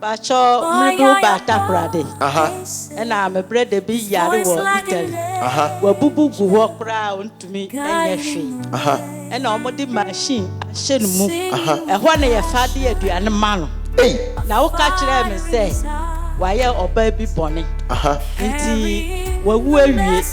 Pakyɛ merebehu Baatakoradi. Ɛna me berɛ da bi yare wɔ Italy. Wabubu gu hɔ koraa ɔntumi nyɛ hwee. Ɛna wɔde machine ahyɛ ne mu. Ɛhɔ na yɛfa de aduane ma no. Na woka kyerɛɛ me sɛ wayɛ ɔbaa bi bɔne nti wawu awie.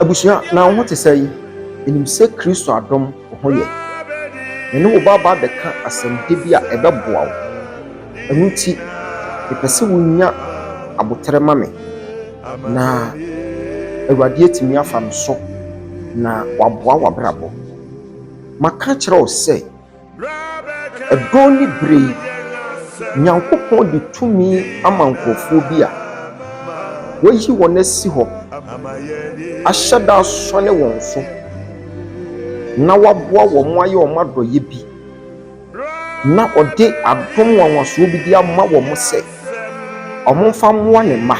Abusua, na wo ho te sɛn? Minim sɛ Kristo adom wo ho yɛ. Me ne wo bɛba abɛka asɛmpa bi a ɛbɛboa wo. Ɛno nti, mepɛ sɛ wonya aboterɛ ma me, na Awurade atumi afa me so na waboa w'abrabɔ. Maka akyerɛ wo sɛ, ɛdɔn ne berɛ yi, Nyankopɔn de tumi ama nkurɔfoɔ bi a wayi wɔn asi hɔ, ahyɛ da asɔne wɔn so, na waboa wɔn ayɛ wɔn adɔyɛ bi na ɔde adom nwanwasoɔ bi de ama wɔn sɛ wɔmfa mmoa ne mma.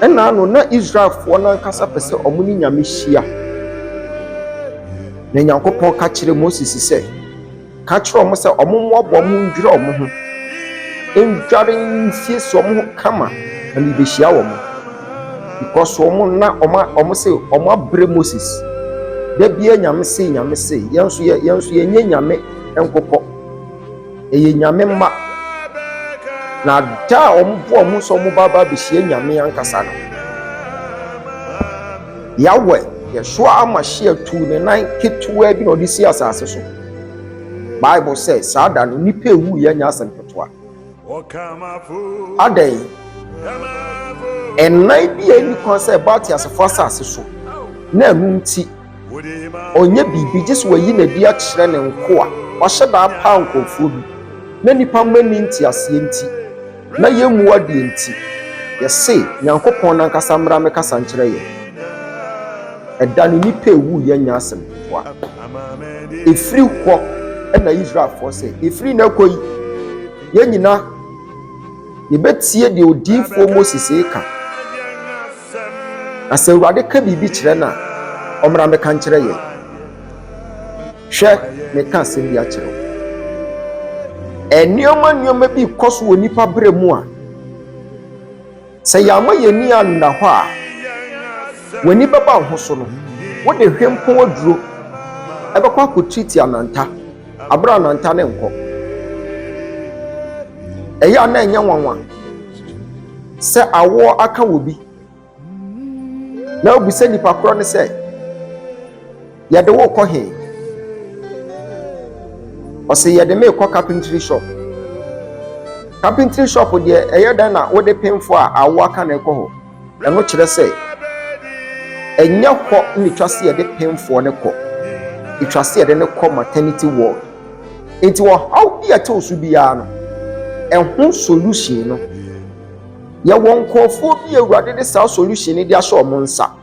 Ɛnna ano na Israelfoɔ no ankasa pɛ sɛ wɔn ne Nyame hyia. Na Nyankopɔn ka kyerɛ Moses sɛ, ka kyerɛ wɔn sɛ wɔn mmoaboa mu ndwere wɔn ho, ndware nsiesie wɔn ho kama na mebehyia wɔn. because wɔn na wɔn wɔn se wɔn abrɛ moses dabia nyame se nyame se yɛn nso yɛ yɛn nso yɛnyɛ nyame nkokɔ ɛyɛ nyame mma na da a wɔn bo a wɔn nso wɔn ba ba abɛhyia nyame ankasa no yawɛ yɛsoa ama hyia tu ne nan ketewa bi na ɔde si asase so bible sɛ saa da no nipa ewu yɛ nyɛ asɛm ketewa. Adɛn? Ɛnan bi a ɛnni kwan sɛ ɛba ateasefoɔ asase so, na ɛno nti ɔnyɛ biribi gye sɛ wayi n'adi akyerɛ ne nkoa. Wahyɛ da apaa nkurɔfoɔ bi, na nnipa mma nni nteaseɛ nti, na yɛmmu adeɛ nti, yɛse Nyankopɔn no ankasa mmra mmɛkasa nkyerɛ yɛn. Ɛda no nnipa ɛwu yɛ nyɛ asɛm. boa. Ɛfiri hɔ na Israelfoɔ sɛ, ɛfiri na ɛkɔ yi, yɛn nyina yɛbɛtie deɛ odiyifoɔ Moses reka. Na sɛ Awurade ka biribi kyerɛ no a, ɔmmra mmɛka nkyerɛ yɛn. Hwɛ, meka asɛm bi akyerɛ wo. Nneɛma nneɛma bi kɔ so wɔ nipa berɛ mu a, Sɛ yɛamma yɛn ani anna hɔ a, w'ani bɛba wo ho so no, wode hwempɔn aduro bɛkɔ akɔtreati ananta, aberɛ a ananta no nkɔ. Ɛyɛ a na ɛnyɛ nwanwa sɛ awoɔ aka wɔ bi, na wobisa nipa korɔ no sɛ, Yɛde wo rekɔ he? Ɔse yɛde me rekɔ carpentry shop. Carpentry shop deɛ ɛyɛ dɛn na wode penfo a awo aka na ɛkɔ hɔ? Ɛno kyerɛ sɛ ɛnyɛ hɔ na ɛtwa sɛ yɛde penfoɔ no kɔ. Ɛtwa sɛ yɛde no kɔ maternity ward. Nti ɔhaw bi a ɛtew so biara no, ɛho solution no, yɛwɔ nkurɔfoɔ bi a Awurade de saa solution no de ahyɛ wɔn nsa.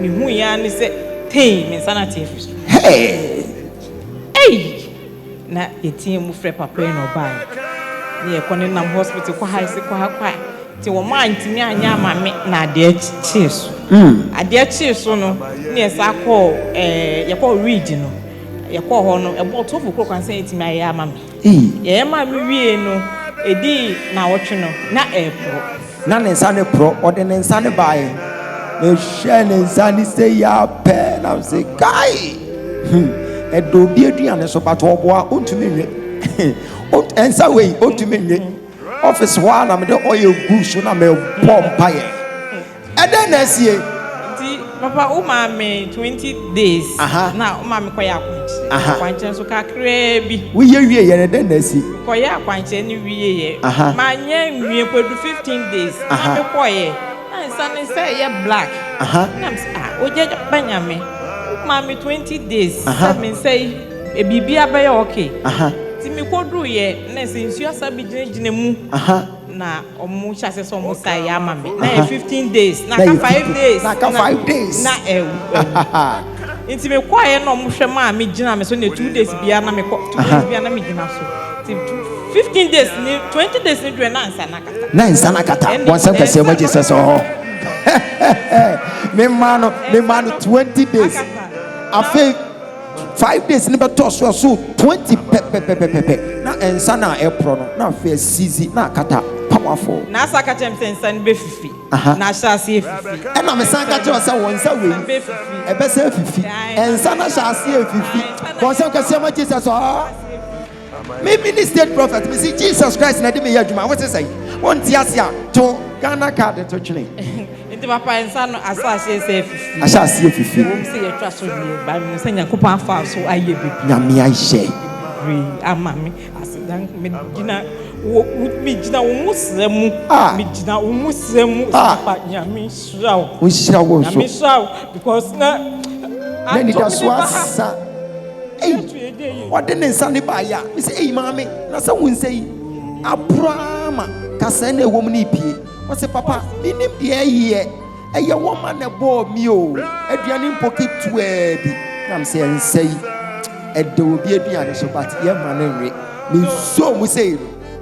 Mihui ara ne sɛ tee! Me nsa no ate afiri so. Hey! Ei! Na yɛteaa mu frɛ papa yi na ɔbaeɛ. Na yɛkɔ ne nam hospital kɔ ha se kɔ ha kɔ ha. Nti wɔn a ntumi anyɛ ama me na adeɛ kyee so. Adeɛ kyee so no na yɛsan kɔɔ ɛɛ yɛkɔɔ Reed no. Yɛkɔɔ hɔ no ɛbɔɔ twelve o'clock ansa yɛtumi ayɛ ama me. Ii. Yɛyɛ maa me wiee no, edii naawɔtwe no, na ɛreporɔ. Na ne nsa no porɔ. Ɔde ne nsa no baeɛ. Mehwɛɛ ne nsa no sei ara pɛ, na mese, Kai! Hmm, ɛda obi aduane so, but ɔboa, ɔntumi nwe. Ɔnt, nsa wei, ɔntumi nwe. Office hɔ ara na mede oil guu so na mebɔɔ mpaeɛ. Ɛdɛn na asie? Nti papa wo maa me twenty days Aha. na wo maa me kɔyɛ akwankyerɛ Aha. akwankyerɛ nso kakraa bi Woyɛ wie yɛ no ɛdɛn na asi? kɔyɛ akwankyerɛ no wieɛ Aha. manyɛ nwie mpo du fifteen days na Aha. me kɔyɛ na nsa no sɛ ɛyɛ black Aha. na me sɛ ah ogya ba nyame wo maa me twenty days Aha. sɛ me nsa yi eh, biribi abɛyɛ okay Aha. nti me kɔduruiɛ na sɛ nsuo asa bɛgyinagyina mu Aha. na ɔmo hyɛ ase sɛ ɔmo sa ɛyɛ ama me na yɛ fifteen days na aka five days na aka five days na ɛwu ɛwu nti me kɔ ayɛ na ɔmo hwɛ maa me gyina me so na two days bia na me kɔ two days bia na me gyina so ti fifteen days ni twenty days ni dwɛ na nsa na kata na nsa na kata wɔn nsɛm kɛse ɛmɛ jesus sɛ ɔhɔ me maa no me maa no twenty days afei. Five days no bɛtɔ so a so twenty pɛpɛpɛpɛpɛ na nsa no a ɛporɔ no na afei asizi na akata pamafo. Na asa aka kyerɛ me sɛ nsa no bɛfifi, Aha. na ahyɛ ase afifi. Ɛna mesan ka kyerɛɛ wo sɛ wɔn nsa wei, Bɛfifi. ɛbɛsan afifi. Ɛnsa no ahyɛ ase afifi. Wɔn nsam kɛseɛ ma Jesus, ɔɔ. Me me ne state prophet me si Jesus Christ na de me yɛ adwuma wo sesɛ yi wo nte ase a to Ghana card to twene. Nti papa nsa no asa aseɛ sɛ fifi. Asa aseɛ fifi. Wɔn sɛ yɛ twa so deɛ ba mi sɛ nyakopɔn afa so ayɛ bibi. Nyame ayɛ. Bebree ama me asedan me gyina wo me gyina wo mu srɛ mu. Ah. Me gyina wo mu srɛ mu. Ah. Papa nyame. Nhyira wo. Nhyira wo nso. Nhyira wo because na. Na nidaso asa. Eyi ɔde ne nsa ne baayɛ a mesɛ eyi maame na sɛ wo nsa yi abura ma kasa na ɛwɔ mu ne pie. Ɔsɛ papa menim deɛ ɛyɛ ɛyɛ wɔn ma na ɛbɔɔ mi o aduane mpo ketewa bi na mesɛ nsa yi ɛda obi aduane so but yɛ ma no nwe me nsuo mu sɛ yi no.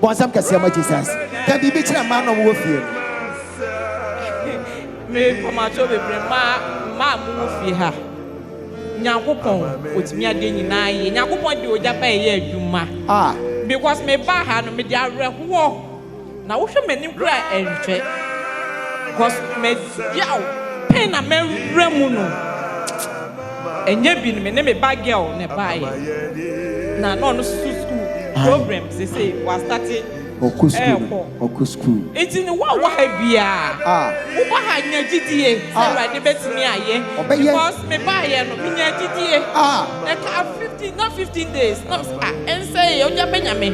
Bɔnsɛm kɛseɛ ma Jesus. Ka biribi kyerɛ mmaa no a wɔwɔ fie no. Me mpamato bebree mmaa mmaa a mowɔ fie ha. Nyankopɔn otumi adeɛ nyinaa yie. Nyankopɔn de ogya ba ɛyɛ adwuma. Because me ba ha no me de awerɛhoɔ na wohwɛ m'anim kura ɛnhwɛ. Because mɛgyaw pain na mɛwura mu no. Ɛnyɛ bi no me ne me ba girl na ɛbaeɛ na na ɔno nso school problem seesei wa starte ɛɛkɔ nti no wo a wɔ ha biara wo ba ha nya gyidie sɛ awurade bɛtumi ayɛ because me baeɛ no me nya gyidie ɛkaa 15 na 15 days na me sɛ ah ɛnsɛeɛ ogya bɛnya me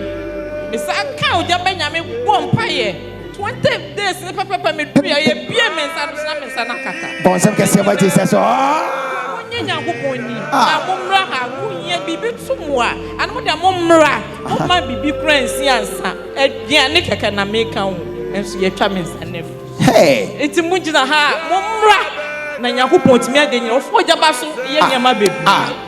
me san kaa ogya bɛnya me bɔɔ mpaeɛ Twenty days ne pɛpɛpɛ me duri a yɛ bie me nsa no sena me nsa na kata. Bɔnsɛm kɛseɛ ma Jesus ɔɔ. Oh. Monye Nyankopɔn ni ah. na mommra ha mohia biribi to mo a ana mo deɛ mommra momma biribi kora nsi ansa aduane kɛkɛ na meka ho nso yɛatwa me nsa no afi nti mogyina ha a mommra na Nyankopɔn tumi ade nyina ɔfo ɔgyaba so yɛ nneɛma bebree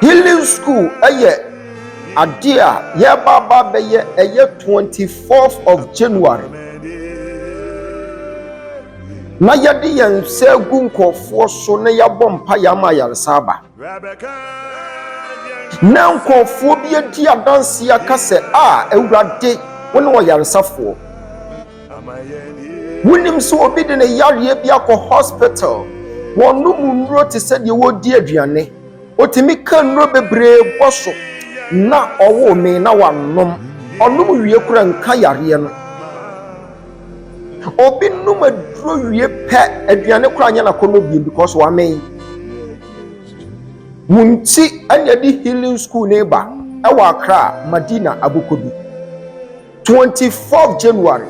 healing school ɛyɛ adeɛ a yɛbaaba bɛyɛ ɛyɛ 24th of january na yɛde yɛn nsa gu nkurɔfoɔ so na yɛabɔ mpa yɛ ama ayaresa aba na nkurɔfoɔ bi adi adanseɛ aka sɛ a awurade wo ne ɔyaresafoɔ wonim sɛ obi de ne yareɛ bi akɔ hospital wɔnom nnuro te sɛ deɛ wɔredi aduane ɔtumi ka nnuro bebree bɔ so na ɔwo me na wanom ɔnom wie kora nka yareɛ no obi nom aduro wie pɛ aduane kora nyɛ nakɔnɔ biem because wamen wo nti ɛne ɛde healing school ne ba ɛwɔ akra madina abokɔ bi Twenty fourth January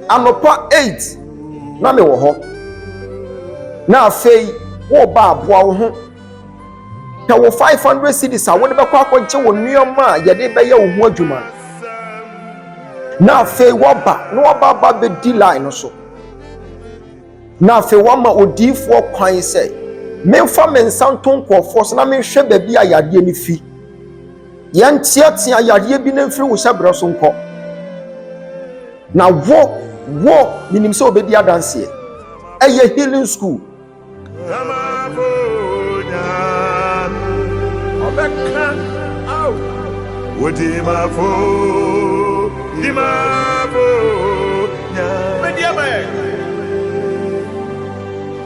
anɔpa eight na mewɔ hɔ na afei woba aboa wo ho pɛ wo five hundred cedis a wode bɛkɔ akɔgye wo nneɛma a yɛde bɛyɛ wo ho adwuma na afei woaba na waba aba bɛdi line no so na afei woama odiifoɔ kwan sɛ memfa me nsa nto nkurɔfoɔ so na menhwɛ baabi a yadeɛ no fi. Yɛnteatea yareɛ bi no mfiri wo hyɛberɛ so nkɔ. Na wo, wo, menim sɛ wobɛdi adanseɛ. Ɛyɛ healing school. Dimafo,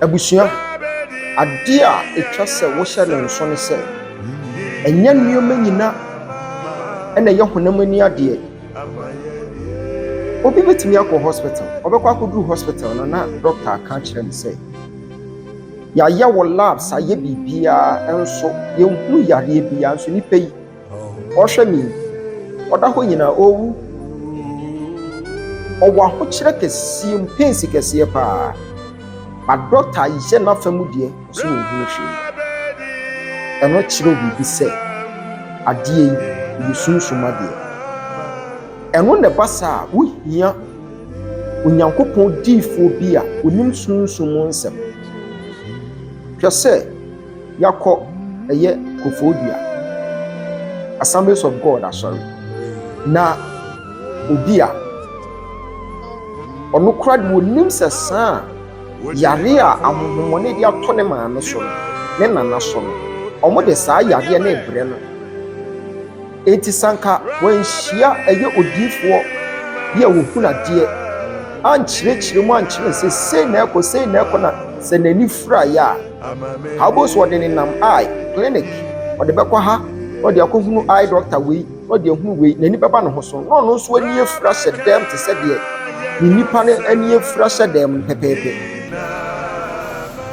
Abusua, adeɛ a ɛtwa sɛ wohyɛ no nso ne sɛ, ɛnyɛ nneɛma nyina na ɛyɛ honam ani adeɛ. Obi bɛtumi akɔ hospital, ɔbɛkɔ akɔduru hospital no na dɔkta aka akyerɛ no sɛ, yɛayɛ wo labs, ayɛ biribiara nso yɛnhunu yareɛ biara nso nipa yi. Ɔrehwɛ me yi, ɔda hɔ nyinaa ɔrewu. Ɔwɔ ahokyerɛ kɛseɛ mu, pains kɛseɛ paa. Ba dɔkta yɛ n'afa mu deɛ, ɔsɛ ɔnhunu hwee. Ɛno kyerɛ biribi sɛ adeɛ yi yɛ sunsum adeɛ. Ɛno na ɛba saa a, wohia Onyankopɔn diifoɔ bi a ɔnim sunsum nsɛm. Hwɛ sɛ. Yɛakɔ ɛyɛ Koforidua Assemblies of God asɔre na obi a ɔno kora de onim sɛ saa yare a ahohommɔne de ato ne maame so no ne nana so no wɔn de saa yareɛ no rebrɛ no Enti sɛ anka wanhyia ɛyɛ odiyifoɔ bi a ɔhunu adeɛ, ankyerɛkyerɛ mu ankyerɛ no sɛ sei na ɛkɔ, sei na ɛkɔ, na sɛ n'ani firaeɛ a, ha wobɛhu sɛ ɔde nenam eye clinic, ɔde bɛkɔ ha, na ɔde akɔhunu eye doctor wei, na ɔde ahunu wei, n'ani bɛba ne ho so, na ɔno nso ani afira hyɛ dɛm te sɛ deɛ ne nipa no ani afira hyɛ dɛm no pɛpɛɛpɛ.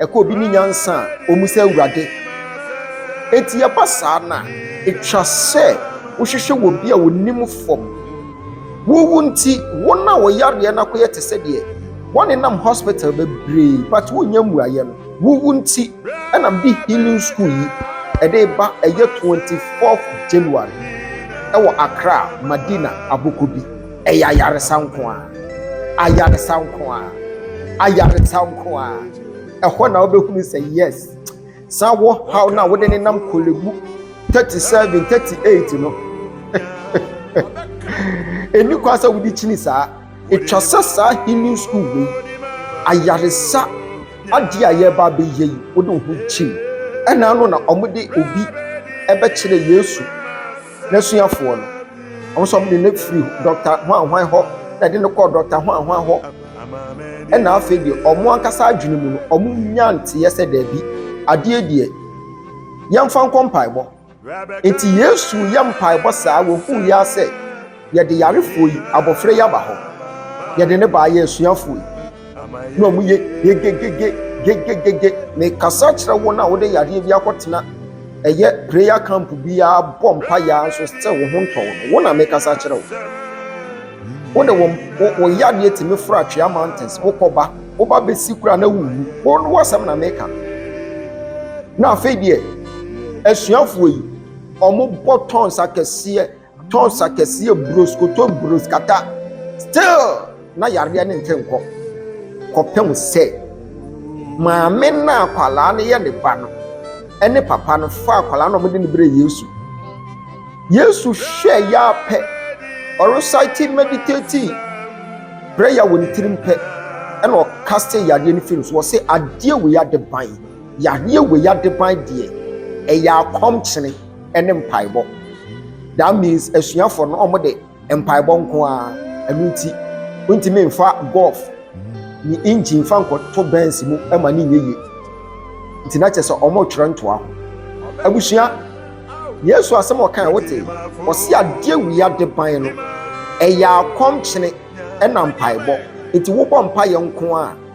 Ɛkɔ obi ne nyansa a, ɔmu sɛ Awurade. Enti ɛba saa no a, ɛtwa sɛ wohwehwɛ wɔ bi a ɔnim fam. Wowu nti, wɔn a wɔyareɛ no akɔyɛ te sɛ deɛ wɔnenam hospital bebree but wonya mmuaeɛ no. Wowu nti, ɛna mede healing school yi ɛde ba ɛyɛ 24th January ɛwɔ Accra, Madina, Abokobi. Ɛyɛ ayaresa nko a, ayaresa nko a, ayaresa nko a. Ɛhɔ na wobɛhunu sɛ yes, saa wɔ haw no a wode ne nam kɔlɛbu 37, 38 no. Ɛni kwa sɛ wode kyini saa. Ɛtwa sɛ saa healing school wei, ayaresa adeɛ a yɛreba abɛyɛ yi, wode wo ho kyim. Ɛna ano na wɔde obi ɛbɛkyerɛ Yesu. n'asuafoɔ no, wɔn nso wɔde no firi dɔkta hwanhwan hɔ, na ɛde no kɔɔ dɔkta hwanhwan hɔ. Ɛna afei deɛ wɔn ankasa adwene mu no, wɔn nya nteɛ sɛ daabi, adeɛ deɛ yɛmfa nkɔ mpaebɔ. Nti Yesu yɛ mpaebɔ saa, wɔhuu yɛ sɛ Yɛde yarefoɔ yi, abɔfra yi aba hɔ. Yɛde no baa yɛ asuafoɔ yi. Na wɔn yɛ gegegege gegegege. Mekasa kyerɛ wɔn a wɔde yareɛ bi akɔtena ɛyɛ prayer camp biara bɔ mpa yɛ nso sɛ wɔn ho ntɔ wɔn. Wɔn na mekasa kyerɛ wɔn. Wɔn de wɔn wɔn yareɛ tumi foro atwea mountains. Wokɔba, woba bɛsi kura na wuwu. Wɔn wɔn asɛm na meka. Na afei deɛ asuafoɔ yi wɔn bɔ tons akɛseɛ. Tons akɛseɛ bros koto bros kata still na yareɛ ne nte nkɔ kɔpem sɛ maame na akwadaa no yɛ ne ba no ɛne papa no fa akwadaa no wɔde ne berɛ yesu yesu hwɛ yɛ apɛ ɔresaiti meditati prayer wɔ ne tirim pɛ ɛna ɔka sɛ yareɛ no firi so wɔ sɛ adeɛ wei ade ban yareɛ wei ade ban deɛ ɛyɛ akɔmkyene ne mpaebɔ. That means asuafoɔ no wɔn de mpaebɔ nko ara ɛno nti wontumi nfa golf ne engine fa nkɔto bɛns mu ɛma ne nyɛ yie nti na kyerɛ sɛ wɔn twerɛ ntoa ho abusua yesu asɛm ɔkan wote ɔsi adeɛ wia de ban no ɛyɛ akɔmkyene ɛna mpaebɔ nti wobɔ mpaeɛ nko ara.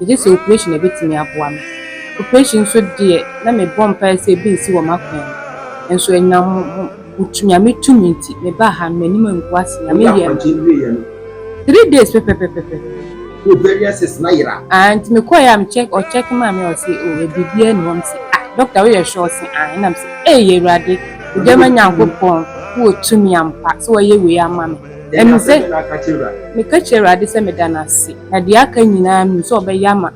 Megye sɛ oprehyɛn na ɛbɛtumi aboa me. Oprehyɛn nso deɛ, na mebɔ mpaeɛ sɛ ebi nsi wɔ m'akwan mu. Nanso ɛnam wo Nyame tumi nti, mebaa ha no, m'anim angu ase. Nyame yɛɛ me. Woyɛ akwankyɛn wieeɛ no? Three days pɛpɛpɛpɛpɛ. Wo variances no ayera? Aah, nti mekɔeɛ a, me check, ɔ check maa me a, ɔse oh, ɛ biribiara nni hɔ. Mese ah, doctor woyɛ sure? Ɔse aah, ɛna mese ei Awurade, wo Gyama Nyankopɔn, wowɔ tumi ampa sɛ woayɛ wei ama me. Ɛne sɛ, meka kyerɛ Awurade sɛ meda no ase, na deɛ aka nyinaa menim sɛ ɔbɛyɛ ama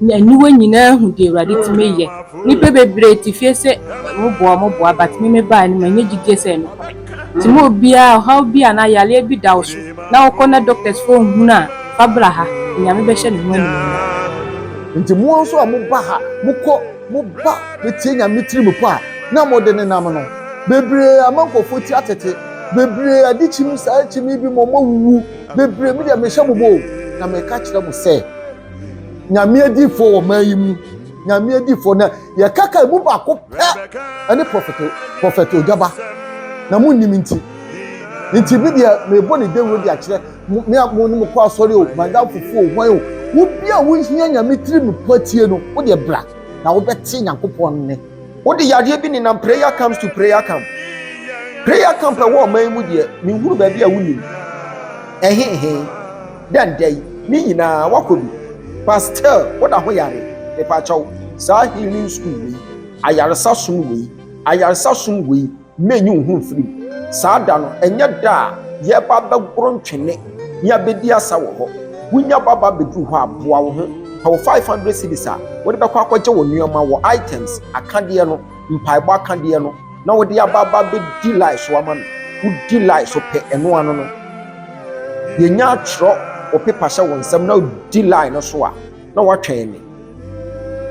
me, aniwa nyinaa ahu deɛ Awurade tumi yɛ, nnipa bebree te fie sɛ ɔmo boa ɔmo boa but me me baeɛ no manya gyidie sɛ ɛnokorɛ nti ma obiara ɔhaw bi anaa yareɛ bi da wo so na wokɔ na doctors foɔ nhunu a fa bra ha Nyame bɛhyɛ ne ho animuonyam. Nti mo nso a mo ba ha mo kɔ mo ba bɛtie Nyame tiri mu pɔ a na mo de nenam no bebree ama nkorɔfoɔ ti atete. Bebree ade kyim, saa ara kyim ebi mo mo wuwu, bebree me deɛ me hyɛ mo bɔ o, na me ka kyerɛ mo sɛ, nyame adiifoɔ wɔ man yi mu, nyame adiifoɔ na yɛ kaka emu baako pɛ ɛne prɔfɛto prɔfɛto ogyaba, na mo nim nti, nti me deɛ me bɔ ne dawuro de akyerɛ mo me a mo ne mo kɔ asɔre o, madam fufu o, hwan o, wo bi a wo hia nyame tiri me pɔ atie no, wo deɛ bra na wo bɛ te nyankopɔn ne. wode yadeɛ bi nenam prayer camps to prayer camp prayer camp ɛwɔ ɔman yi mu deɛ menhunu baabi a wonim ɛhehe dɛn dɛn ne nyinaa wakɔ bi pastel woda ho yare mepakyɛw saa healing school wei ayaresa som wei ayaresa som wei Mɛnyi wo ho mfiri mu. Saa da no, ɛnyɛ da a yɛreba abɛgoro ntwene ne abɛdi asa wɔ hɔ. Wonya baba bɛduru hɔ a, boa wo ho. Pɛ wo 500 cedis a wode bɛkɔ akɔgye wo nnoɔma wɔ items, akadeɛ no, mpaebɔ akadeɛ no, na wode aba aba abɛdi line so ama me. Wodi line so pɛ ɛno ano no, yɛnya atwerɛ wo pepa hyɛ wo nsam na wodi line no so a, na woatwɛn me.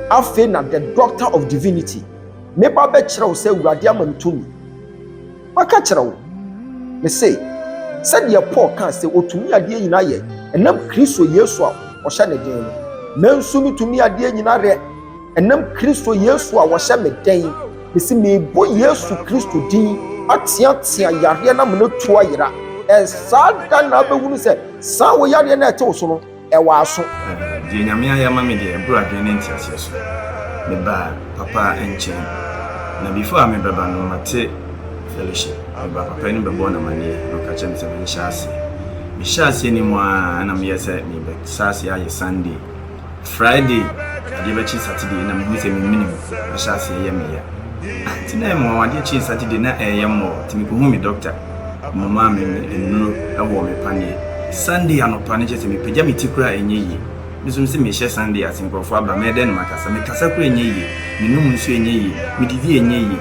Afei na the doctor of divinity Meba bɛkyerɛ wo sɛ Awurade ama me tumi. Maka akyerɛ wo, mese, sɛdeɛ Paul kaa sɛ ɔtumi adeɛ nyina yɛ ɛnam Kristo Yesu a ɔhyɛ ne den no, menso metumi adeɛ nyina rɛ ɛnam Kristo Yesu a ɔhyɛ me den. Mese, mebɔ Yesu Kristo din ateatea yareɛ no amena tu ayera. Ɛnsaa da na wobɛhunu sɛ saa wo yareɛ no a ɛte wo so no, wɔ aso. Deɛ Nyame ayɛ ama me deɛ ɛboro adwene ne nteaseɛ so. Mebaa Papa nkyɛn, na before a mebɛba no mate fellowship. Mebaa Papa anim bɛbɔɔ no amaneɛ na ɔka kyerɛɛ me sɛ menhyɛ aseɛ. Mehyɛɛ aseɛ no mu ara na meyɛɛ sɛ merebɛsa aseɛ ayɛ Sunday, Friday adeɛ bɛkye Saturday na mehu sɛ memenem ahyɛ aseɛ yɛ me ya. Nti na ɛyɛ me nwanwa, adeɛ kyee Saturday na ɛreyɛ mmɔɔ nti mekɔhuu me doctor. Momaa me me nnuro wɔ me paneɛ Sunday anɔpa no kyerɛ sɛ mepagya me ti koraa ɛnyɛ yie Me nso mese mehyɛ Sunday ase nkurɔfoɔ aba mɛyɛ dɛn na makasa Mekasa koraa ɛnyɛ yie Menom nsuo ɛnyɛ yie Medidi ɛnyɛ yie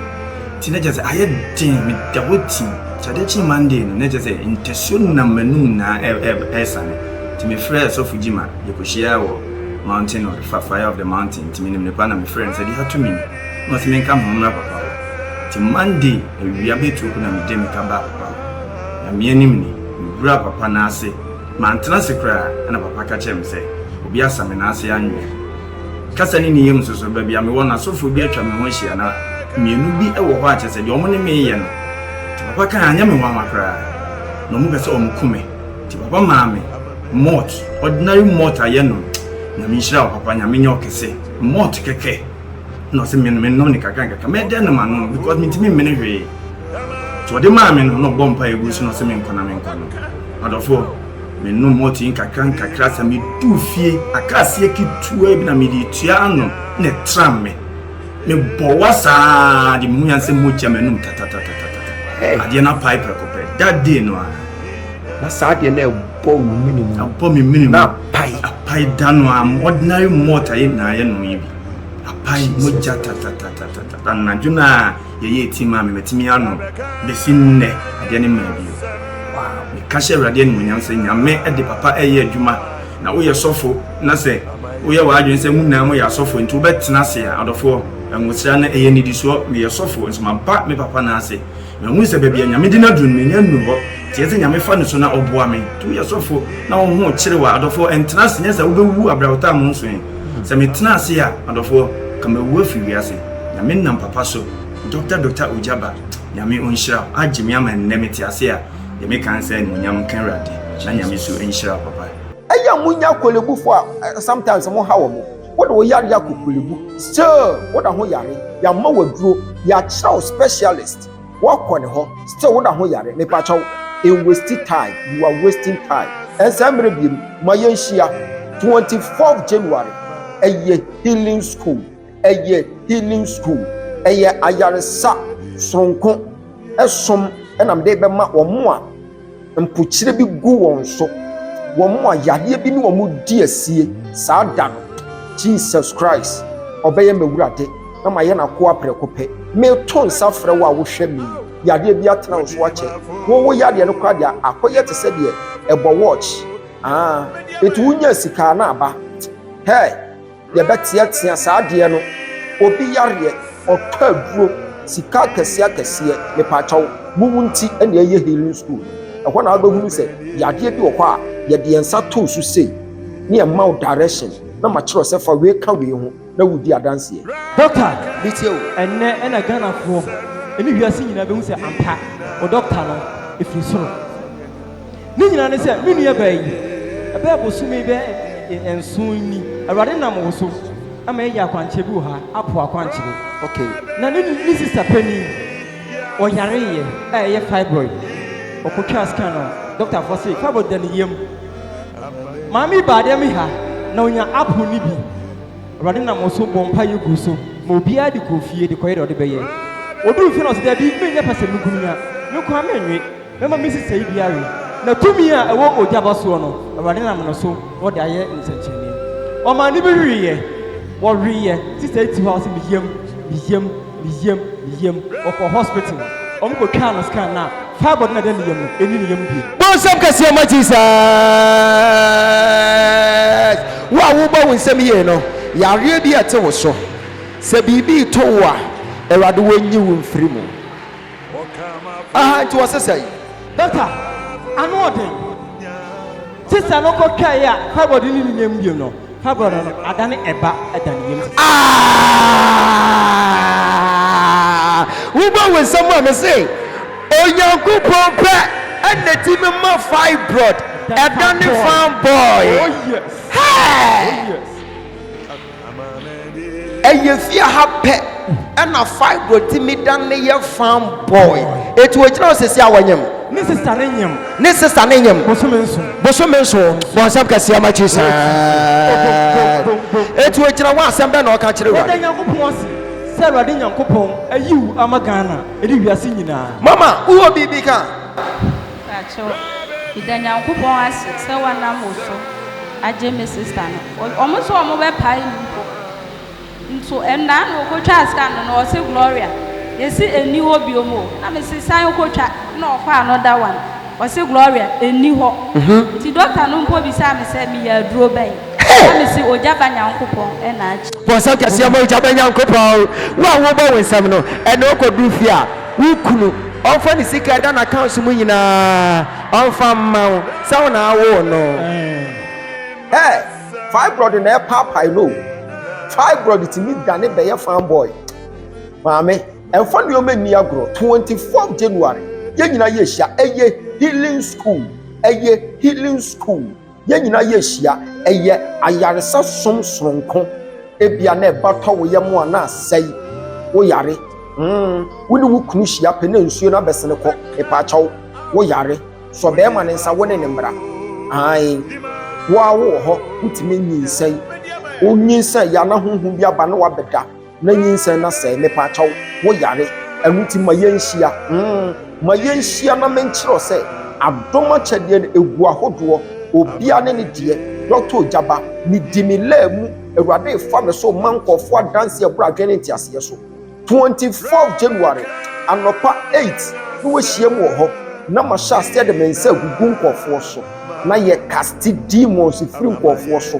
Nti na kyerɛ sɛ ayɛ den meda hɔ ti Nti adeɛ kyee Monday no na kyerɛ sɛ ntasuo nam m'anum nyinaa ɛ ɛ ɛresane Nti mefrɛɛ Sɔfo Gyima yɛkɔhyiaa wɔ Mountain of the fa fire of the mountain Nti menim ne paa na mefrɛɛ no sɛ deɛ ato me ni. Ɔse menka meho mmra papa hɔ Nti Monday awia bɛtuo ko na mede meka baa papa hɔ Nyame anim ni, meburaa papa nan ase Mantena ase koraa ɛna papa ka kyerɛɛ me sɛ Obi asa me nan ase anwea Kasa ne ne yam nso so Baabi a mewɔ no asɔfoɔ bi atwa me ho ahyia na mmienu bi wɔ hɔ a kyerɛ sɛ deɛ wɔne me reyɛ no Nti papa kae anyɛ me nwanwa koraa na wɔpɛ sɛ wɔku me Nti papa maa me malt, ordinary malt a yɛnom Nyame nhyira wo papa, Nyame nyɛ wo kɛse Malt kɛkɛ. na ɔsɛ me menom ne kakra nkakra mɛdɛ nom ano because mentumi mmene hwee nti ɔde maa me no na ɔbɔ mpa ɛgu so na ɔsɛ menkɔ na menkɔ no adɔfoɔ menom mɔto yi nkakra nkakra sɛ medu fie akaaseɛ ketewa bi na mede tua ano na ɛtram me mebɔ wa saa de mehu yan sɛ mogya m'anom tatatatatata adeɛ no apae prɛko pɛ that day no a Na saa adeɛ no a ɛbɔ wo mene mu no, ɛbɔ me mene mu, na apae. Apae da no ara mu, ordinary malt a yɛ nyinaa yɛnom yi bi. Apae mogya tatatatatata. Anadwo no a yɛyɛ etim a me matumi anom bɛsi nnɛ, adeɛ no mmaa bio. Wow, meka hyɛ Awurade animuonyam sɛ Nyame de papa reyɛ adwuma. Na woyɛ sɔfo na sɛ woyɛ w'adwene sɛ mo nyinaa moyɛ asɔfo nti wobɛtena ase a, adɔfoɔ, nwosra no ɛyɛ nnidisoɔ. Meyɛ sɔfo nso maba me papa nan ase Mahu sɛ baabi a Nyame de no aduru no, menya nnuru hɔ. Teɛ sɛ Nyame fa no so na ɔboa me. To woyɛ sɔfo na wo ho kyerew a, adɔfoɔ, ntena ase, nyɛ saa, wobɛwuwu abrɛ a wotaa mo nso ɛ. Sɛ metena ase a, adɔfoɔ, nka mawu afiri wiase. Nyame nam papa so, Dɔkta Dɔkta Ogyaba, Nyame ɔnhyira wo, agye me ama nnɛ mete ase a, deɛ meka ne sɛ, Animuonyam nka Awurade, na Nyame nso nhyira wo papa. Ɛyɛ a monya akwalebufo a sometimes moha wɔn? Wo de wo yareɛ akokulebu still wo da ho yare yama waduro yakyerɛw specialist wakɔ ne hɔ still wo da ho yare mepakyɛw enwasti time you are wasting time ɛnsɛ mmerɛ biem ma yɛnhyia 24 January ɛyɛ healing school ɛyɛ healing school ɛyɛ ayaresa soronko ɛsom ɛna mede bɛma wɔn a Mpokyerɛ bi gu wɔn so. Wɔn a yadeɛ bi ne wɔn di asie saa da no. Jesus Christ, ɔbɛyɛ m'awurade na mayɛ n'akoa prɛko pɛ. Meto nsa frɛ wo a wohwɛ me yi, yadeɛ bi atena wo so akyɛ. Wo wo yadeɛ no koraa deɛ akɔyɛ te sɛ deɛ ɛbɔ watch. Ah, eti wonya sika a na aba. Hey! Yɛbɛteatea saa adeɛ no, obi yareɛ, ɔtɔ aduro, sika akɛseɛ akɛseɛ, mepaakyɛw, mo mu nti na yɛyɛ healing school no. Ɛhɔ na wobɛhunu sɛ yadeɛ bi wɔ hɔ a, yɛde yɛn nsa to wo so sei, na yɛma wo direction, na makyerɛ wo sɛ fa wei ka wei ho, na woredi adanseɛ. Doctor, ɛnnɛ na Ghanafoɔ ne wiase nyinaa bɛhu sɛ ampa, wo doctor no, ɛfiri soro. Ne nyinaa ne sɛ, me nua baa yi, ɛbɛyɛ bosome bɛyɛ nson ni, Awurade nam wo so ama yɛayɛ akwankyerɛ bi wɔ ha, apo akwankyerɛ. Okay. Na ne, ne sista panin, ɔyareeɛ a ɛyɛ fibroid. Ɔkɔtwaa scan no, dɔktafoɔ se, fibroid da ne yam. Maame yi baa dɛm ha, na ɔnya apo no bi. Awurade nam wo so bɔ mpa yɛ gu so, ma obiara de kɔɔ fie de kɔyɛ deɛ ɔde bɛyɛ. Ɔduu fie na ɔse, dabi, menyɛ pɛ sɛ mekunu nya, me nkoa menwe. Mɛma me nhyehyɛe bi awe, na tumi a ɛwɔ ogya ba soɔ no, Awurade nam no so na ɔde ayɛ nsɛnkyerɛnneɛ. Ɔmaa ne bi weeɛ, wɔweeɛ, Sista yi te hɔ a ɔse me yam, me yam, me yam, me yam, ɔkɔɔ hospital, wɔn kɔ twaa no scan na fibroid no a ɛda ne yam no, ɛnni ne yam bio. Bɔ nsɛm kɛseɛ ma Jesus. Wo a wo bɔ wo nsɛm yie no, yareɛ bi ɛte wo so, sɛ biribi reto wo a, Awurade wɔnyi wo mfiri mu. Aha nti wɔ sesɛ yi. Doctor, ano ɔden. Sister no kɔ twɛɛ a fibroid no nni yam bio no, fibroid no adane ɛba da ne yam sesɛ. Aah! Wo bɔ wo nsam a mese Onyankopɔn pɛ ɛna timi ma fibroid ɛdane fan boy. Hɛɛ! Ɛyɛ fie ha pɛ ɛna fibro ti mi dan ne yɛ farm boy. Eti ogyina hɔ sisi a wɔnyem. Ne sista ne nyem. Ne sista ne nyem. Bosome nso. Bosome nso. Bɔnsɛm kɛseɛ ma Jesus. Eti ogyina hɔ asɛm bɛ na ɔka kyerɛ wura. Yɛda Nyankopɔn ase sɛ Awurade Nyankopɔn ayi wo ama Ghana ɛne wiase nyinaa. Mama wowɔ biribi ka? Pakyɛw, meda Nyankopɔn ase sɛ wɔanam wo so agye me sister no. Wɔn se wɔn bɛpae no mpo. Nso ɛnna na wɔkɔtwaa scan no na ɔse Gloria yɛse ɛnni hɔ biom o. Na me se san kɔtwa na ɔfaa another one ɔse Gloria ɛnni hɔ. Nti doctor no mpo bisaa me sɛ meyɛ aduro bɛn? Na me se Ogya ba Nyankopɔn na agye. Bɔ nsɛm kɛseɛ ma Ogya ba Nyankopɔn. Wo a wobɔ wo nsɛm no ɛnna ɔkɔduru fie a. Wo kunu, ɔmfa ne sika a ɛda n'accounts mu nyinaa, ɔmfa mma wo, sɛ wo na awoo no. Hey! Fibroid na ɛpaapae no o. Fibroid tumi dane bɛyɛ farm boy. Maame, ɛmfa nneɛma nni agorɔ. 24 January, yɛn nyinaa yɛhyia. Ɛyɛ healing school. Ɛyɛ healing school. yɛn nyinaa yɛ ahyia ɛyɛ ayaresa som soronko ebia na ɛba tɔ wo yam a na asɛe wo yare mm wo ne wo kunu hyia pɛ na nsuo no abɛsene kɔ mepaakyɛw wo yare sɔ bɛrima ne nsa wo ne ne mmara ae wo a wowɔ hɔ wotumi nyinsɛn wonyinsɛn yɛ ana honhom bi aba na wabɛda Na nyinsɛn na sɛe me paakyɛw wo yare ɛno nti ma yɛn nhyia mm ma yɛn nhyia na me nkyerɛ wo sɛ adom akyɛdeɛ no ɛgu ahodoɔ obia ne ne deɛ Doctor Ojaba me di me laa mu awurade refa me so ma nkɔɔfoɔ adanseɛ ɛbrɛ adwene ne nteaseɛ so 24 January anɔpa 8 na wahyia mu wɔ hɔ na ma hyɛ aseɛ de me nsa agugu nkɔɔfoɔ so. na yɛ kaste demons firi nkurɔfoɔ so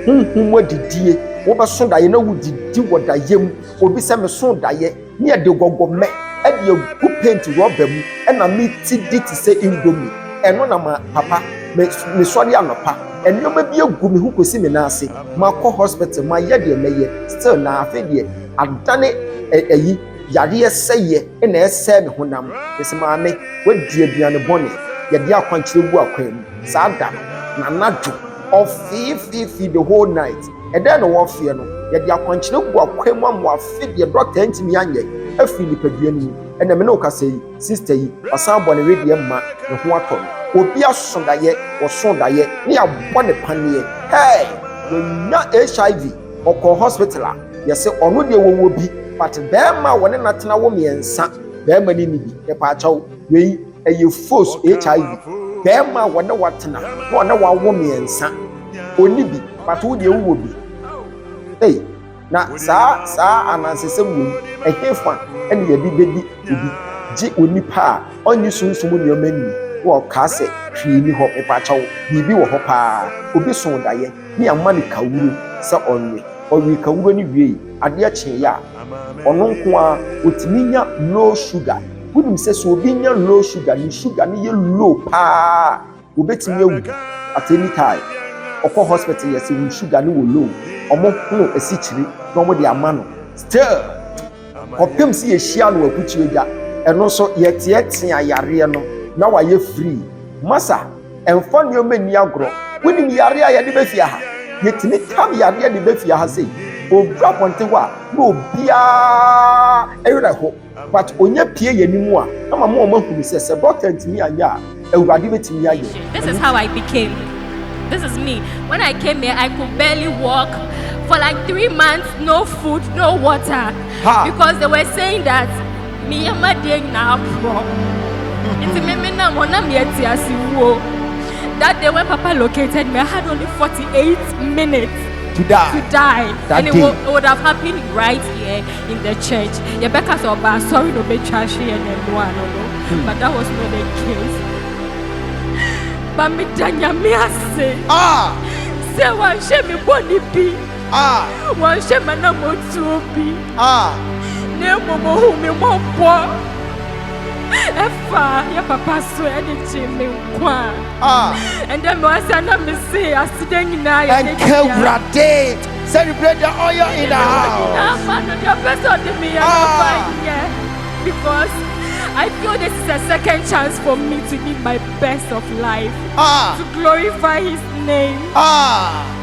honhom mu adidie wobɛso daeɛ na wodidi wɔ daeɛ mu obi sɛ meso daeɛ ne ɛde gɔgɔmɛ ɛde agu paint rɔba mu ɛna meti di te sɛ indomie ɛno na ma papa mesɔre anɔpa nneɛma bi agu me ho kɔsi me nan ase makɔ hospital mayɛ deɛ mɛyɛ still na afei deɛ adane ɛyi Yareɛ sɛeɛ na ɛresɛe me honam. Mese, Maame, woadi aduane bɔne. Yɛde akwankyerɛ gu akwan mu. Saa da no, n'anadwo, ɔfeefeefee the whole night. Ɛdɛn na wɔrefeɛ no? Yɛde akwankyerɛ agu akwan mu ama wafe deɛ dɔkta ntumi anyɛ afiri nipadua no mu. Ɛnna me ne wo kasa yi, sista yi, wasan abɔ ne wedeɛ mma, ne ho atɔ no. Obi aso daeɛ, wɔso daeɛ, na yɛabɔ no paneɛ. Hɛɛ! Wanya HIV! Ɔkɔɔ hospital a yɛse ɔno deɛ wɔwɔ bi but bɛɛma a wɔne no atena wo miɛnsa bɛɛma no nni bi mepaakyɛw wei ɛyɛ fos HIV bɛɛma a wɔne watena na ɔne wawo miɛnsa ɔnni bi but wo deɛ wowɔ bi ei na saa saa anansesɛm wei ɛhefa ɛne yɛde bɛdi obi gye onipa a ɔnye sunsum nneɛma nni na ɔkaa sɛ hwee ni hɔ mepaakyɛw biribi wɔ hɔ paa obi so dayɛ. ne ama no kawuro sɛ ɔnwe. Ɔwee kawuro no wiei, adeɛ kyeeɛ a, ɔno nko ara ɔtumi nya low sugar. Wonim sɛ sɛ obi nya low sugar, ne sugar no yɛ low paa, wɔbɛtumi awu at any time. Ɔkɔ hospital yɛ sɛ wo sugar no wɔ low, wɔhono asikyire na wɔde ama no. Still, kɔpem sɛ yɛhyia no akutuo gya, ɛno nso yɛteatea yareɛ no na wayɛ free. Masa. Mfa nneɛma nni agorɔ. Wonim yareɛ a yɛde bɛfie ha? Yɛtumi tam yareɛ de ba fie ha sei. Ɔduru apɔnten hɔ a, na obiara werɛ ho. But ɔnya pue yɛn anim a, na wama wɔn ahunu sɛ, sɛ dɔkta antumi anyɛ a, Awurade bɛtumi ayɛ. This is how I became. This is me. When I came here, I could barely walk for like three months, no food, no water. Ha! Because they were saying that. Ne yam adeɛ nyinaa aporɔ. Nti me me nam hɔ na me ati ase wuo. That day when Papa located me, I had only 48 minutes. To die. To die. That and day. It, it would have happened right here in the church. Yebeka so ba sorry no be trashi and no no no. Hmm. But that was not the case. But me danya me ase. Ah. Say one shame me boni bi. Wɔnhyɛ m'anammɔntuo bi, na mmom ɔhuu me mmɔbɔ ɛfa yɛ papa so ɛde gyee me nkwa a ɛndɛ mewasa na mese aseda nyinaa yɛ ne dea ɛnkawurade celebrate the oil in the house ama no deɛ ɔpɛ sɛ ɔde meyɛ no ɔfa yɛ because I feel this is a second chance for me to live my best of life ah. to glorify his name ah.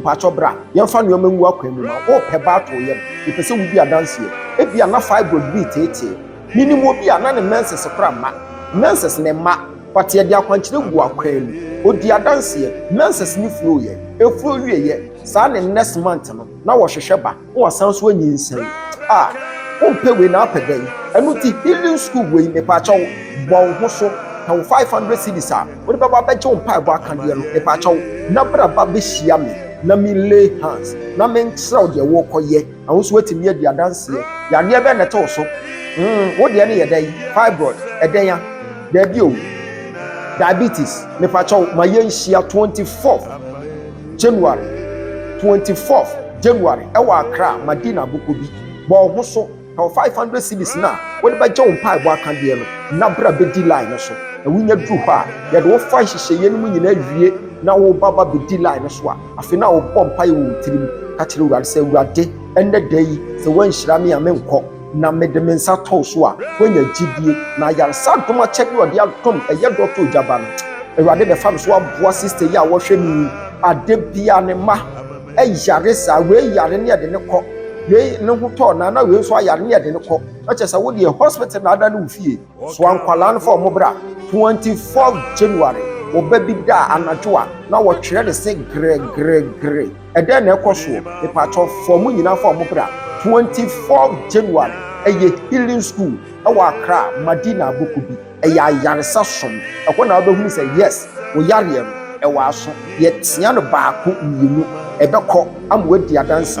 Mpatsɔ bra, yɛmfa nneɛma ngu akwan mu ma wo. Worepɛ ba ato wo yam? Mepɛ sɛ wudi adanseɛ. Ebia na fibroid reteetee wo. Menim obi a na ne menses kora mma. Menses ne mma, but yɛde akwankyerɛ guu akwan mu. Ɔdii adanseɛ. Menses no flow'eɛ. Ɛflow wieeɛ saa ne next month no, na wɔrehwehwɛ ba. na wasan so anyinsɛn a, wompɛ wei na apɛ dɛn? Ɛno nti healing school wei mepaakyɛw bɔ wo ho so, pɛ wo 500 cedis a wode bɛba abɛgye wo mpaebɔ akadeɛ no mepaakyɛw na bra ba bɛhyia me na me lay hands na menkyerɛw deɛ worekɔyɛ na wo nso woatumi adi adanseɛ. Yadeɛ bɛn na ɛte wo so? Mm, wo deɛ no yɛ dɛn? Fibroid, ɛdɛn a? Daabi o. Diabetes, mepaakyɛw ma yɛnhyia 24th. January twenty fourth January ɛwɔ Accra Madina boko bi bɔ wo ho so na wɔ five hundred cedis no a wode bɛgye wo mpaebɔ aka deɛ no na bra bɛdi line no so na wonya duru hɔ a yɛde wo fa nhyehyɛeɛ no mu nyinaa wie na wo ba ba bɛdi line no so a afei na wobɔ mpaeɛ wɔ wo tirim ka kyerɛ Awurade sɛ Awurade ɛnɛ da yi sɛ woanhyira me a menkɔ na mede me nsa tɔw so a, woanya gyidie, na ayaresa adom akyɛdeɛ a ɔde adom ɛyɛ dɔ too gya ba no, Awurade bɛfa me so aboa sista yi a wɔhwɛ no yi, adeɛ biara ne mma yare saa, wei yare ne yɛde no kɔ, wei ne ho tɔɔ no a, na wei nso ayare ne yɛde no kɔ, na kyerɛ sɛ wo deɛ hospital na ada ne wo fie, soa nkwadaa no fa wɔn bra, 24 January, ɔba bi da anadwo a, na wɔtwerɛ ne se grɛgrɛgrɛ. ɛdɛn na ɛkɔ soɔ mepatwɔ fɔ mo nyinaa fa ɔmo bra 24 january ɛyɛ healing school ɛwɔ akra madina aboko bi ɛyɛ ayaresa som ɛhɔ na wobɛhunu sɛ yes wo yareɛ no ɛwɔ aso yɛsua no baako mmienu ɛbɛkɔ ama wadi adanse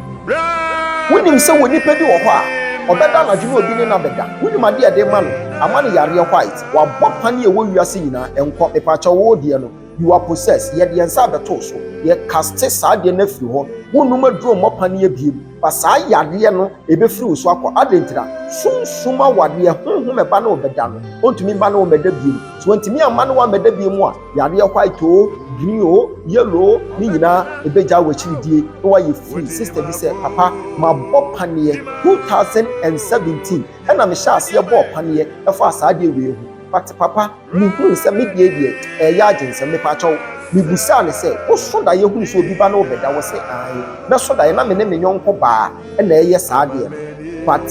Wonim sɛ wɔ nipa bi wɔ hɔ a ɔbɛda anadwo na obi ne no abɛda wonim ade a ɛde ma no ama no yareɛ white wabɔ pane a ɛwɔ wiase nyinaa ɛnkɔ mepaakyɛw woo deɛ no you are possessed yɛde yɛn nsa abɛtoo so yɛ caste saa adeɛ no afiri hɔ wonnom aduro mmɔ paneɛ biem ba saa yareɛ no ɛbɛfiri wo so akɔ adɛn ntira sunsum awadeɛ honhom ɛba ne wo bɛda no ɔntumi mma ne wo mmɛda biem so ɔntumi amma ne wo ammɛda biem a Yadeɛ white o, green o, yellow o, ne nyinaa ɛbɛgya wɔ akyiri die na wayɛ free. Sister bi sɛ, Papa, mabɔ paneɛ 2017 ɛna mehyɛ aseɛ bɔɔ paneɛ ɛfaa saa adeɛ wei ho. But Papa, mehunu sɛ me deɛ deɛ ɛɛyɛ agyensɛm. Mepakyɛw. Mebusaa no sɛ, Woso daeɛ hunu sɛ obi ba na ɔrebɛda? Ɔse, Aane. Mɛso daeɛ na me ne me yɔnko baa ɛna ɛɛyɛ saa adeɛ no. But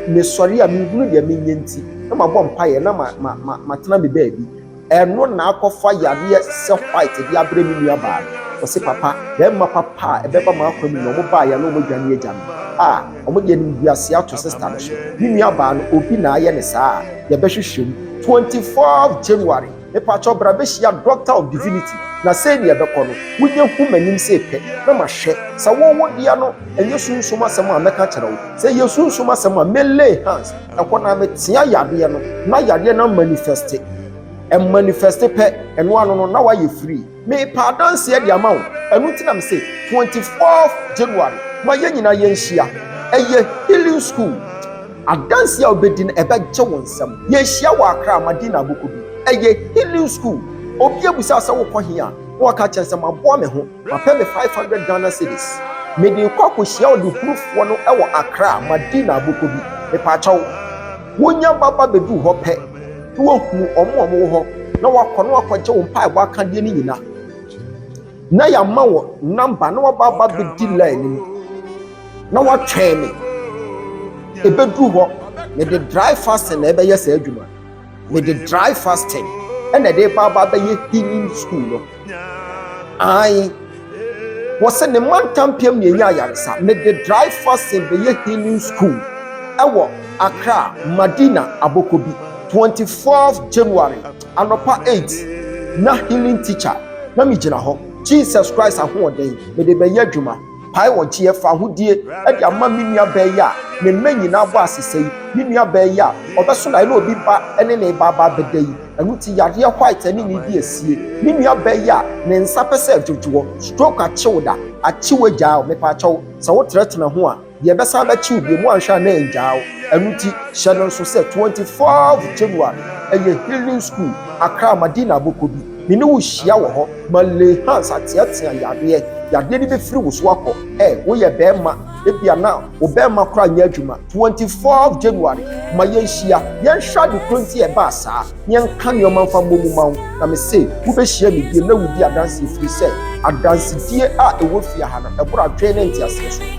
mesɔre a, menhunu deɛ menyɛ nti na mabɔ mpaeɛ na ma, ma, ma, matena me baabi. Ɛno na akɔfa yareɛ sɛ white de abrɛ me nua baa no. Ɔse papa, bɛɛma papa a ɛbɛba m'akwan mu no ɔmo baeɛ na ɔmo dwane agya no. Ah, ɔmo de animguaseɛ ato sister no so. Me nua baa no, obi na ayɛ no saa a, yɛbɛhwehwɛ mu. Twenty fourth January, mepakyɛw bra bɛhyia Doctor of Divinity na sei na ɛbɛkɔ no, wonyɛ hu m'anim sei pɛ na mahwɛ. Sɛ wo wo deɛ no, ɛnyɛ sunsum asɛm a mɛka akyerɛ wo. Sɛ ɛyɛ sunsum asɛm a, me lay hands. Ɛhɔ no ara metea yadeɛ no na yadeɛ no amanifɛste. Ɛmanifɛste pɛ, ɛno ano no na wayɛ free. Mepa adanseɛ de ama wo. Ɛno nti na me se 24 January ma yɛn nyinaa yɛnhyia. Ɛyɛ healing school. Adanseɛ a wobɛdi no ɛbɛgye wo nsam. Yɛnhyia wɔ Accra Madina Aboko bi. Ɛyɛ healing school. Obi abusa sɛ wokɔ he a na waka kyerɛ sɛ maboa me ho. Mapɛ me five hundred Ghana cedis. Mede rekɔ akɔhyia ɔdehurufɔɔ no wɔ Accra, madi n'abɔkɔ bi. Mepaakyɛw. Wonya ba ba bɛduru hɔ pɛ na wahunu wɔn a wɔwɔ hɔ na wakɔ na wakɔgye wo mpaebɔ akadeɛ no nyina na yɛama wo number na waba aba bɛdi line no mu na watwɛn me. Ɛbɛduru hɔ, mede dry fasting na ɛbɛyɛ saa adwuma. mede dry fasting ɛna ɛde ba aba bɛyɛ healing school no ae wɔsɛ ne mantampiam ne ɛnya ayaresa mede dry fasting bɛyɛ healing school ɛwɔ akra madina aboko bi 24 january anɔpa 8 na healing teacher na megyina hɔ jesus christ ahoɔden mede bɛyɛ adwuma Pae wɔn kyeɛ fa ahodie de ama me nuabaa yi a ne mma nyinaa bɔ asesɛ yi, me nuabaa yi a ɔbɛso daeɛ na obi ba ne ne ba aba abɛda yi. Ɛno nti yadeɛ white ne ne di asie. Me nuabaa yi a ne nsa pɛ sɛ ɛdwodwoɔ, stroke akye wo da, akye wo agyaa wo, mepaakyɛ wo, sɛ wo tenatena ho a, deɛ ɛbɛsan abɛkye wo biom, woanhwɛ a na ɛngyaa wo. Ɛno nti hyɛ no nso sɛ 24th January ɛyɛ healing school, Accra, Madina abɔkɔ bi. Me ne wo hyia wɔ hɔ. Ma Lay Hands ateatea yadeɛ. Yadeɛ no bɛfiri wo so akɔ. Hey, woyɛ barima. Ebia na wo barima koraa nyɛ adwuma. Twenty fourth January, ma yɛnhyia. Yɛnhwɛ ade korɔ nti a ɛbaa saa, na yɛnka nneɛma mfa mmɔ mu mma wo. Na mese, wobɛhyia me bio na wodi adanseɛ ɛfiri sɛ adansedie a ɛwɔ fie ha no, ɛboro adwene ne nteaseɛ so.